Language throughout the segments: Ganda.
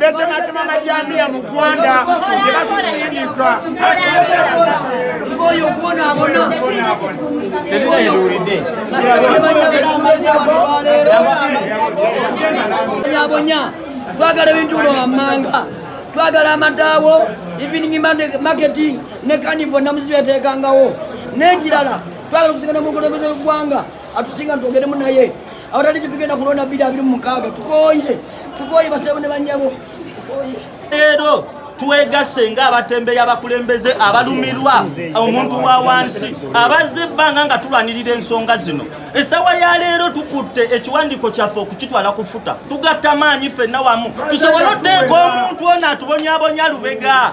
betematema amajambiya mu gwanda nebatusindika ngoyo gwona abona yabonya twagala ebintu uno wammanga twagala amataawo evening market ne kanibo namuzibeteekangawo n'ekirala twagala okusigana mukulembeze gwanga atusinga nitwogeremu naye awatali kipigenda kulonda biri abiri mumukaaga tukoye tukoye basebo ne banyabo leero twegasse nga abatembeyi abakulembeze abalumirwa omuntu wa wansi abazze ebbanga nga tulwanirira ensonga zino esawa ya leero tukutte ekiwandiiko kyaffe okukitwala kufuta tugatta maanyi ffenna wamu tusobole oteeka omuntu ono atubonyabonya lubega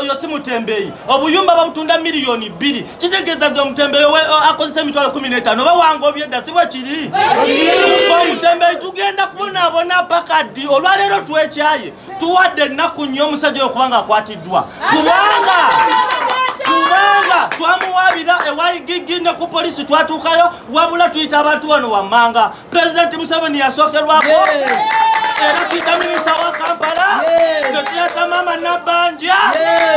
oyo si mutembeeyi obuyumba babutunda miliyoni bbiri kitegeeza nti omutembeeyi akozesa emitwalo kumi n'etaano oba wanga obyedda si bwe kiri omutembeeyi tugenda kubonaabona paka ddi olwaleero twekyaye tuwadde ennaku nnyo omusajja oyo kubanga akwatiddwa kubanga kubanga twamuwaabira ewaigigi ne ku poliisi twatuukayo wabula tuyita abantu wano wammanga pulezidenti museveni yasokerwako era tuyita minisita wa kampala netuyata maama nabanja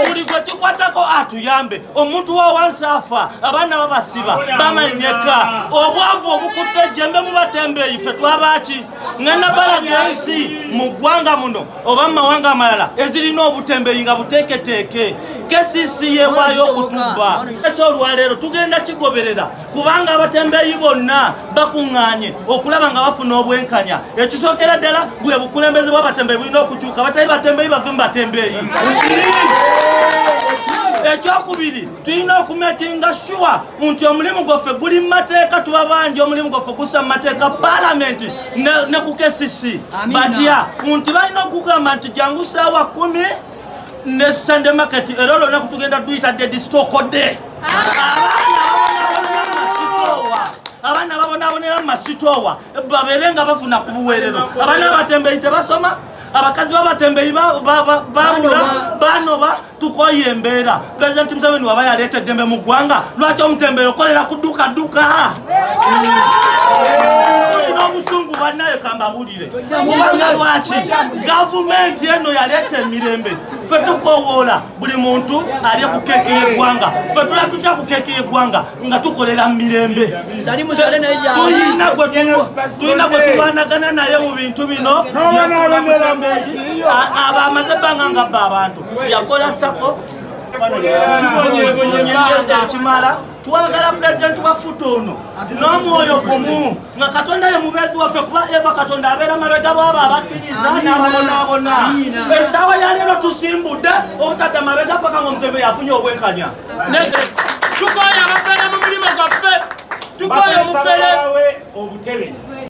buli gwe kikwatako atuyambe omuntu wa wansi afa abaana babasiba bamanyeka obwavu obukutte ejjembe mu batembeeyi fe twabaki nga nabalaga ensi mu ggwanga muno oba mu mawanga amalala ezirina obutembeeyi nga buteeketeeke kesisi yewaayo okutubba ese olwaleero tugenda kigoberera kubanga abatembeeyi bonna bakuŋŋaanye okulaba nga bafuna obwenkanya ekisookera ddala bwe bukulembeze bw'abatembeeyi bulina okukyuka abatali batembeeyi bave mu batembeeyi ekyokubiri tulina okumekinga shuwa nti omulimu gwaffe guli mu mateeka tuba bangi omulimu gwaffe gusa mu mateeka palamenti ne ku kcc batya nti balina okugamba nti jangu saawa kumi ne sunday market era olwo naku tugenda duyita dedi stokode abaana babonabonera mumasitowa babeere nga bafuna ku buweerero abaana abatembeyi tebasoma abakazi babatembeyi babula banoba tukoye embeera pulezidenti museveni waba yaleeta eddembe mu ggwanga lwaki omutembeyi okolera ku dduka dduka olina obusungu bannaye kambabulire kubanga lwaki gavumenti eno yaleeta emirembe ffe tukowoola buli muntu alye ku keeki y'eggwanga ffe tula tutya ku keeki y'eggwanga nga tukolera mu mirembe tulina gwe tulwanagana naye mu bintu bino abamaze ebbanga nga bba abantu yakola sako ekimala twagala pulezidenti wa futa ono n'omwoyo gumu nga katonda ye mubeezi waffe kuba eva katonda abeera mabega bwabo abakkiriza n'ababonaabona esaawa yaleero tusimbudde obutadda mabega paka nga omutembe yafunye obwenkanya tukoye abafere mu mulimu gwaffe tukoye omufere obutebe